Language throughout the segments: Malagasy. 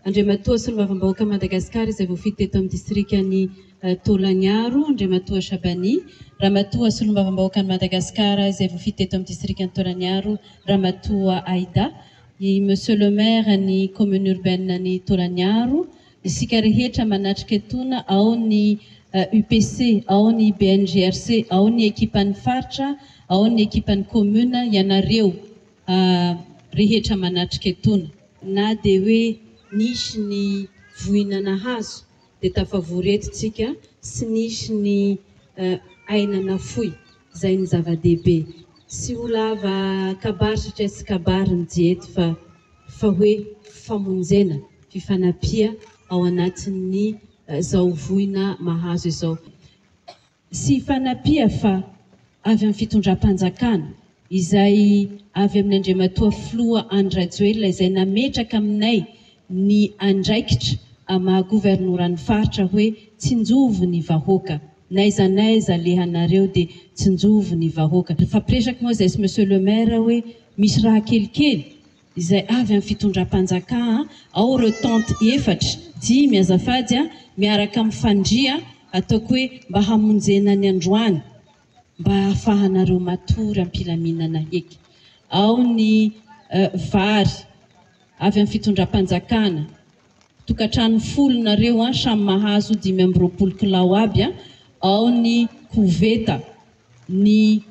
Andriamatoa Solombavambahoaka Madagasikara izay voafidy teto amin'ny Distrikan'i Tôlangiaro, Andriamatoa Shabani, Ramatoa Solombavambahoakan'i Madagasikara izay voafidy teto amin'ny Distrikan'i Tôlangiaro, Ramatoa Aida, i Monsieur le Maire ny Commune Urbaine ny Tôlangiaro, isika rehetra manatrika etona ao ny UPC, ao ny BNGRC, ao ny Ekipan'ny Faritra, ao ny Ekipan'ny Commune, ianareo. A rehetra manatrika etona. Na dia hoe nisy ny voina nahazo dia tafavory eto tsika sy nisy ny aina nafoy zay ny zava-dehibe. Tsy ho lava kabary satria tsy kabary ny Diety fa fa hoe famonjena, fifanampia ao anatin'ny zao voina mahazo izao. sy fanapia fa avy amin'ny fitondram-panjakana izay avy amin'ny Andriamatoa Filoha Andry Rajoelina izay nametraka aminay ny andraikitra maha governoran'ny faritra hoe tsinjovy ny vahoaka n'aiza n'aiza alehanareo dia tsinjovy ny vahoaka. Nifampiresaka moa izahay sy Monsieur le Maire hoe misy raha kelikely izay avy amin'ny fitondram-panjaka a! ao ireo tente efatra, dimy azafady a! miaraka amin'ny fandria ataoko hoe mba hamonjena ny androany mba hahafahanareo matory am-pilaminana heky, ao ny vary avy amin'ny fitondram-panjakana, tokantrano folo nareo a! samy mahazo dimy amby roapolo kilao aby a! ao ny koveta, ny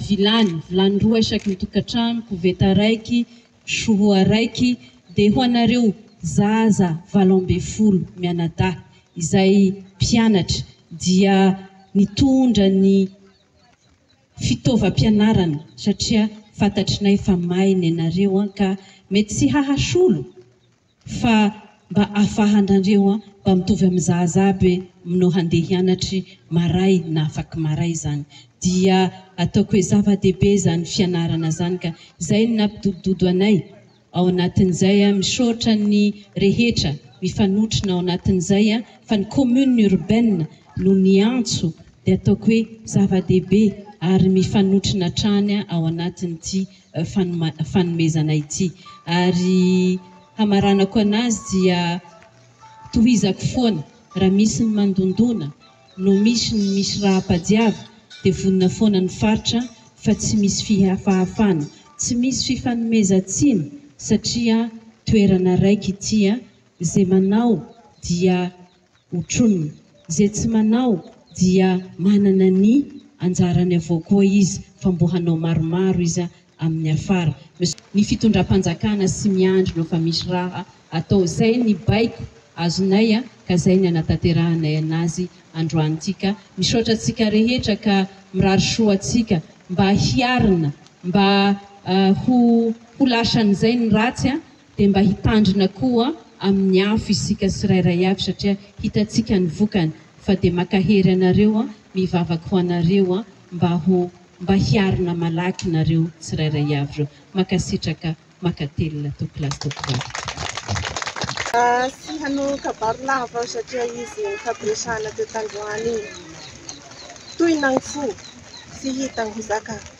vilany, vilany roa isaky ny tokantrano, koveta raiky, soho araiky, dia ho anareo zaza valo ambin'ny folo mianadahy izay mpianatra dia nitondra ny fitaovam-pianarana satria fantatrinay fa maina ianareo an ka mety tsy hahasolo Fa mba afahanrandreo an mba mitovy am zaza aby hoe mno handeha hianatry maray na afaky maray zany dia ataoko hoe zavadehibe zany fianarana zany ka zay no napidodododo anay ao anatin zay an misaotra ny rehetra mifanotrona ao anatin zay an fa ny commune urbaine no niantso dia ataoko hoe zavadehibe ary mifanotrona hatrany ao anatin ty fanomezana ity ary hamaranako anazy dia tohizako foana raha misy ny mandondona no misy ny misy rahapadiava dia vonona foana ny faritra fa tsy misy fihafahafana tsy misy fifanomezatsiny satria toerana raika ity a ze manao dia Hotronin'ny izay tsy manao dia manana ny anjarany avao koa izy fa mbo hanao maromaro iza amin'ny afara. Ny fitondram-panjakana sy miandry no fa misy raha atao zay ny baiko azonay a ka zay ny anatanterahanay anazy androany ty ka misaotra antsika rehetra ka mirary soa antsika mba hiarina mba ho ho lasan'izay ny ratsy a dia mba hitandrina koa amin'ny afo isika tsirairay avy satria hitantsika ny vokany fa dia makahery anareo mivavaka ho anareo mba ho mba hiarina malaky nareo tsirairay avy reo makasitraka makatelina tompoko lahy sy tompoko vavy. Tsy hanao kabary lava aho satria izy nifampiresahana teo tandroany iny toy nangfo tsy hita ny ho zakany.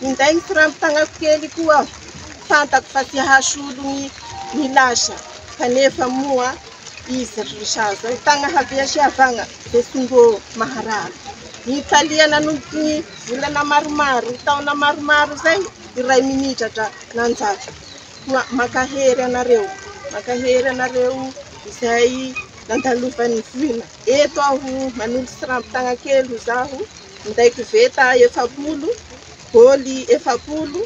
Ninday ny kirango tagnako kely koa aho, fantako fa tsy hahasolo ny ny lasa, kanefa moa izy ry sazy eo tagna havia sy havagna dia tsy mbô maharary. Nitalia nanomboka ny volana maromaro, taona maromaro izay i Raiminitra dra nanjary. Koa mankahery anareo, mankahery anareo izay nandalovan'ny voina. Eto aho manondro siramby tagna kely ho zaho, minday koveta efapolo, bôly efapolo,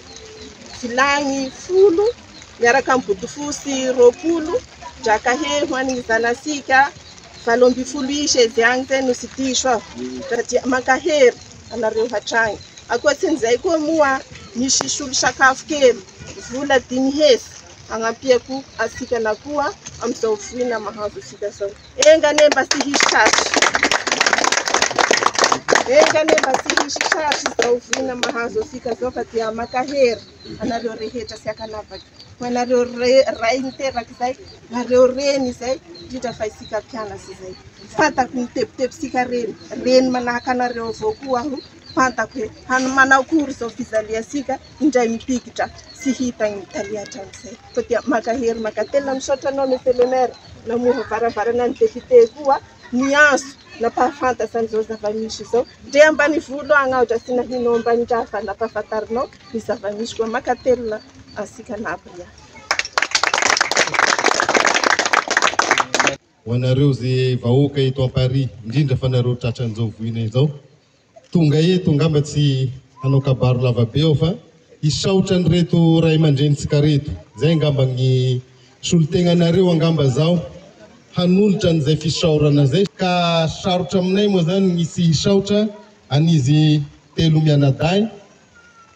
vilagny folo, miaraka amin'ny bodofotsy roapolo, drakahe ho an'ny zanasika valo ambin'ny folo isa izy agny zay no tsy diso aho, dia mankahery anareo hatragny. Ankoatsin'izay koa moa misy solosakafo kely vola dimy hetsy hagnampiako antsika na koa amin'izao voina mahazo antsika zao. Enga anie mba tsy hisy tratry. Enga anie mba tsy hisy tratry izao vina mahazo antsika izao fa dia mankahery anareo rehetra sy ankanavaka, ho anareo ray niteraka izay, nareo reny izay, indrindra fa isika mpianatra izay. Fantako ny tebitebintsika reny, reny manahaka anareo avao koa aho, fantako hoe manao akory izao fijaliantsika. indray mipikitra sy hita eny Italie hatramin'izay fa dia mankahery mankatelina misaotra anao Monsieur le Maire namoha varavarana ny député koa niantso nampahafantatra an'izao zava-misy izao ndre ambanivolo agny aho ndra tsy nahinao ambanindraha fa nampahafantarinao ny zava-misy koa mankatelina antsika nabria ho anareo ze vahoaka eto à Paris indrindra fa nareo tratran'izao voina izao Tonga eto ngamba tsy hanao kabaro lavabe aho fa hisaotra an'ireto ray aman-drenintsika reto. Zay ngamba gny solotegnanareo angamba zaho hanolotra an'izay fisaorana zay. Ka sarotra aminay moa zany gny tsy hisaotra an'izy telo mianadahy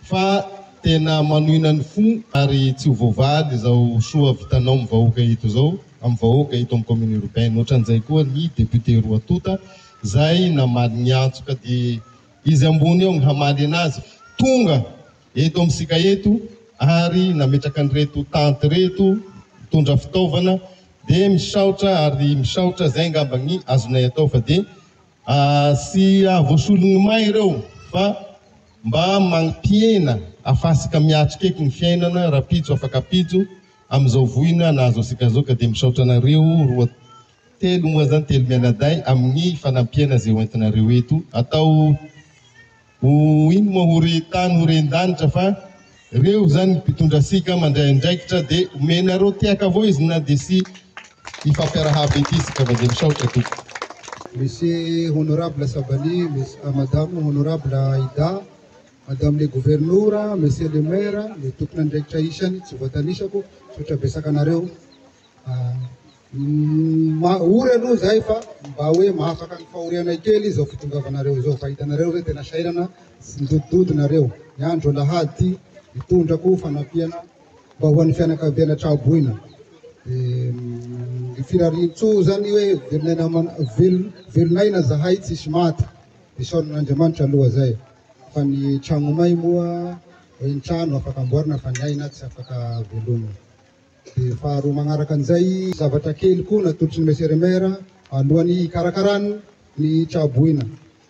fa tena manohina ny fo ary tsy ho voavaly izao soa vitanao amin'ny vahoaka eto izao, amin'ny vahoaka eto amin'ny commune urbaine. Ohatran'izay koa ny député roa tonta izay namaly ny antsoka dia izy ambony eo ny hamaly anazy tonga eto amintsika eto ary nametraka an'ireto tante ireto mitondra fitaovana dia misaotra ary misaotra izay angamba ny azonay atao fa dia Tsy hahavoasolon'ny may ireo fa mba mampihena afasika miatrika eky ny fiainana rapitso afaka pitso amin'izao voina nahazo asika zao ka dia misaotra anareo roa telo moa zany telo mianadahy amin'ny fanampiana ze hoentinareo eto atao Ho ino moa ho re tany ho ren danitra fa reo zany ny mpitondra sika mandray andraikitra de omenareo tehaka voizina de sy hifampiarahaba ety sika fa de misaotra tompoko. Merci honorable Sabany, madame honorable Aida, madame le governora, monsieur le maire, ny tomponandraikitra isany tsy voatanisako, misaotra besaka anareo. Ory aloha izay fa mba hoe mahafaka ny fahorianay kely izao fitongavanareo izao fa hitanareo ve tena sahirana sy midodododo nareo ny andro alahady hitondrako fanampiana mba ho an'ny fianakaviana traboina dia firariantsoa izany hoe velon'aina velon'aina zahay tsisy maty dia saoran'Andriamanitra aloha izay fa ny tragnomay moa hoe ny trano afaka amboarina fa ny aina tsy afaka velomina Dia faharoa manaraka an'izay, zavatra kely koa natolotry ny Monsieur le Maire alohan'ny hikarakarany ny Tsahaboina.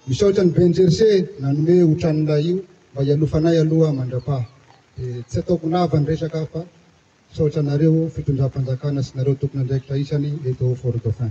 Misaotra an'i Ben Jersey nanome io tranolay io mba hialofanay aloha mandrapaha. Dia tsy ataoko lava ny resaka aho fa misaotra anareo fitondram-panjakana sy nareo tompon'andraikitra isany eto Fort-Dauphin.